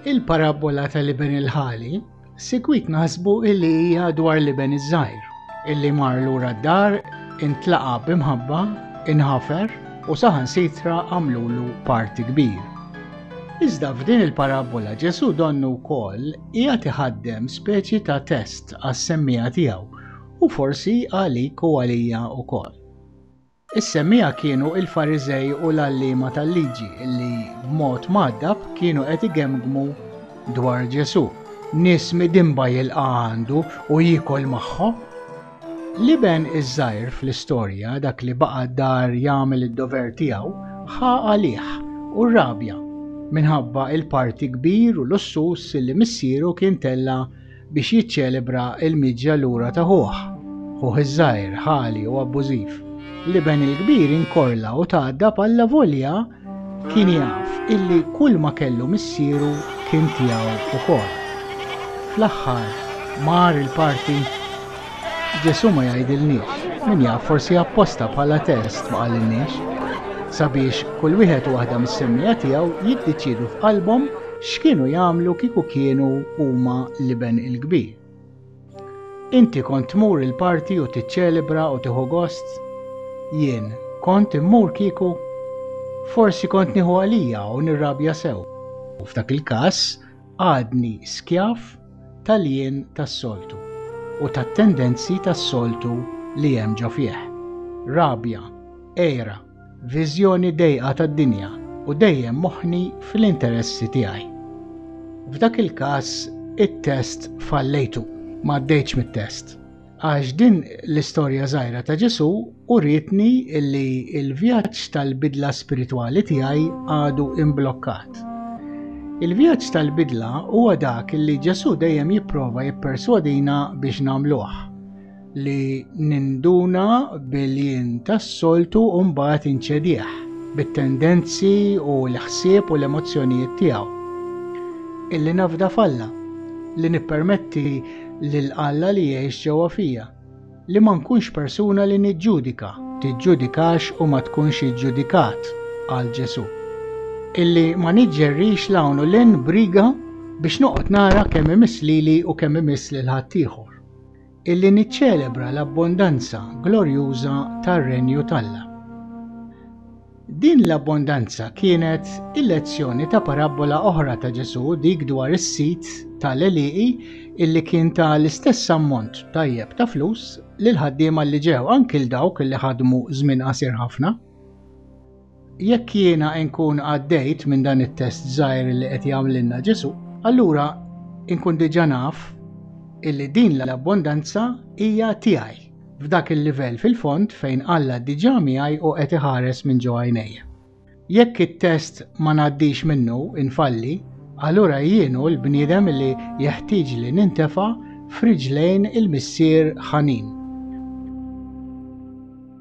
Il-parabbola tal-iben il-ħali sikwit naħsbu illi hija dwar l-iben iż-żgħir, illi mar lura d-dar, intlaqa b'imħabba, inħafer u saħan sitra għamlulu parti kbir. Iżda f'din il-parabbola Ġesu donnu wkoll hija tiħaddem speċi ta' test għas-semmija tiegħu u forsi għalik u għalija wkoll. Is-semmiegħa kienu l-Fariżej u l-għalliema tal-liġi li b'mod mgħaddab kienu qed igemgmu dwar Ġesù. Nies midinba jilqa' għandu u jiekol magħhom? L-iben iż-żgħir fl-istorja, dak li baqa' d-dar jagħmel id-dover tiegħu, ħa għalih u rrabja minħabba l-parti kbir u lussuż li missieru kien tella' biex jiċċelebra l-miġja lura ta' ħuh, ħuh iż-żgħir, ħali u abbużiv. L-iben il-kbir inkorla u tgħaddab allavolja kien jaf illi kull ma kellu missieru kien tiegħu wkoll. Fl-aħħar mar il-parti Ġesù ma jgħidilniex, min jaf forsi apposta bħala test ma qalilniex sabiex kull wieħed u waħda mis-semmija tiegħu jiddeċiedu f'qalbhom X'kienu jagħmlu kieku kienu huma l-Iben il-Kbir? Inti kont tmur il-party u tiċċelebra u tieħu gost? Jien, kont immur kieku? Forsi kont nieħu għalija u nirrabja sew. U f'dak il-każ għadni skjav tal-jien tas-soltu u tat-tendenzi tas-soltu li hemm ġo fih. Rabja, għira, Viżjoni dejqa tad-dinja u dejjem moħħni fl-interessi tiegħi. F'dak il-każ it-test fallejtu, ma għaddejtx mit-test. Għax din l-istorja żgħira ta' Ġesu uritni li l-vjaġġ tal-bidla spiritwali tiegħi għadu imblokkat. Il-vjaġġ tal-bidla huwa dak li Ġesu dejjem jipprova jipperswadina biex nagħmluh. li ninduna bil-jien tas-soltu u mbagħad inċedih bit-tendenzi u l-ħsieb u l-emozzjonijiet tiegħu. Illi nafda falla, li nippermetti lil Alla li jgħix ġewwa fija, li ma nkunx persuna li niġġudika, tiġġudikax u ma tkunx iġġudikat għal Ġesu. Illi ma niġġerrix l-hawn u l-in briga biex noqgħod nara kemm imiss lili u kemm imiss lil ħaddieħor. Illi niċċelebra l-abbondanza glorjuża tar-Renju t'Alla. Din l-abbondanza kienet il-lezzjoni ta' parabbola oħra ta' Ġesù, dik dwar is-sid ta' l-għelieqi illi kien ta l-istess ammont tajjeb ta' flus lill-ħaddiema li ġew, anki 'l dawk li ħadmu żmien qasir ħafna. Jekk jiena nkun għaddejt minn dan it-test żgħir li qed jagħmlilna Ġesu, allura nkun diġà naf illi din l-abbondanza hija tiegħi f'dak il-livell fil-fond fejn Alla diġà miegħi u qed iħares minn ġo għajnejja. Jekk it-test ma ngħaddix minnu, infalli, allura jienu l-bniedem li jeħtieġ li nintefa' f'riġlejn il-Missier ħanin.